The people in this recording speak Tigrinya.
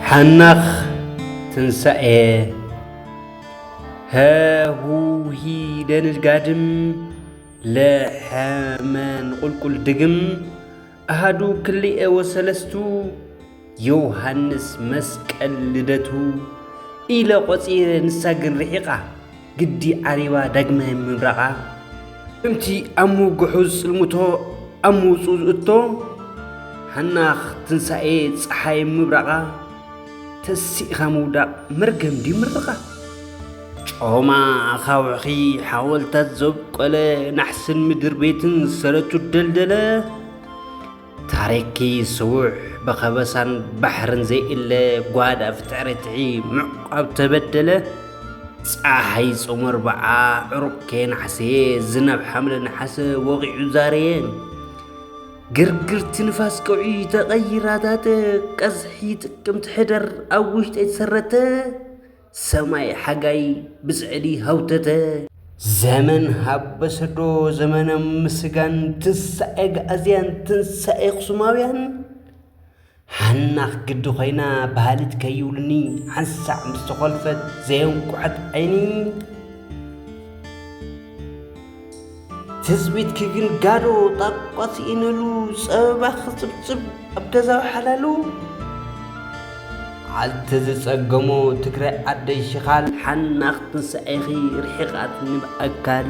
ሓናኽ ትንሳኤ ሀሁሂ ደንል ጋድም ለሐመን ቁልቁል ድግም አሃዱ ክልኤ ወሰለስቱ ዮውሃንስ መስቀል ልደቱ ኢለ ቆጺረ ንሳ ግን ርሒቃ ግዲ ዓሪባ ዳግመ ምብራቓ። እምቲ ኣሙ ግሑዝ ጽልምቶ ኣምውጹ ዝእቶ ሃናኽ ትንሳኤ ጸሓይ ምብራቓ። ተሲእኻ ምውዳቕ መርገም ድዩ ምርቓ? ጮማ ኣኻውሕኺ ሓወልታት ዘብቆለ ናሕስን ምድር ቤትን ሰረቱ ደልደለ ታሪኪ ስዉሕ ብኸበሳን ባሕርን ዘይእለ ጓድ ኣፍጥዕርትዒ ምዕቋብ ተበደለ ፀሓይ ጾመር በዓ ዕሩቕ ከየናሕሰየ ዝናብ ሓምለ ነሓሰ ወቒዑ ዛረየ ግርግርቲ ንፋስ ቀውዒ ተቐይራታተ ቀዝሒ ጥቅምቲ ሕደር ኣብ ውሽጠይ ተሰረተ ሰማይ ሓጋይ ብጽዕዲ ሃውተተ። ዘመን ሃበሰዶ ዘመነ ምስጋን ትንሳኤ ኣግኣዝያን ትንሳኤ ኣኽሱማውያን ሓናኽ ግዲ ኮይና በሃሊት ከይብሉኒ ሓንሳዕ ምስ ተኾልፈት ዘየንቁሐት ዓይኒ ትጽቢትኪ ግን ጋዶ ጣቋ ስኢነሉ ጸበባ ክጽብጽብ ኣብ ገዛዊ ሓላሉ ዓልቲ ዝጸገሞ ትግራይ ዓደይ ሽኻል ሓናኽ ትንሳኤኺ ርሒቓትኒ ብኣካል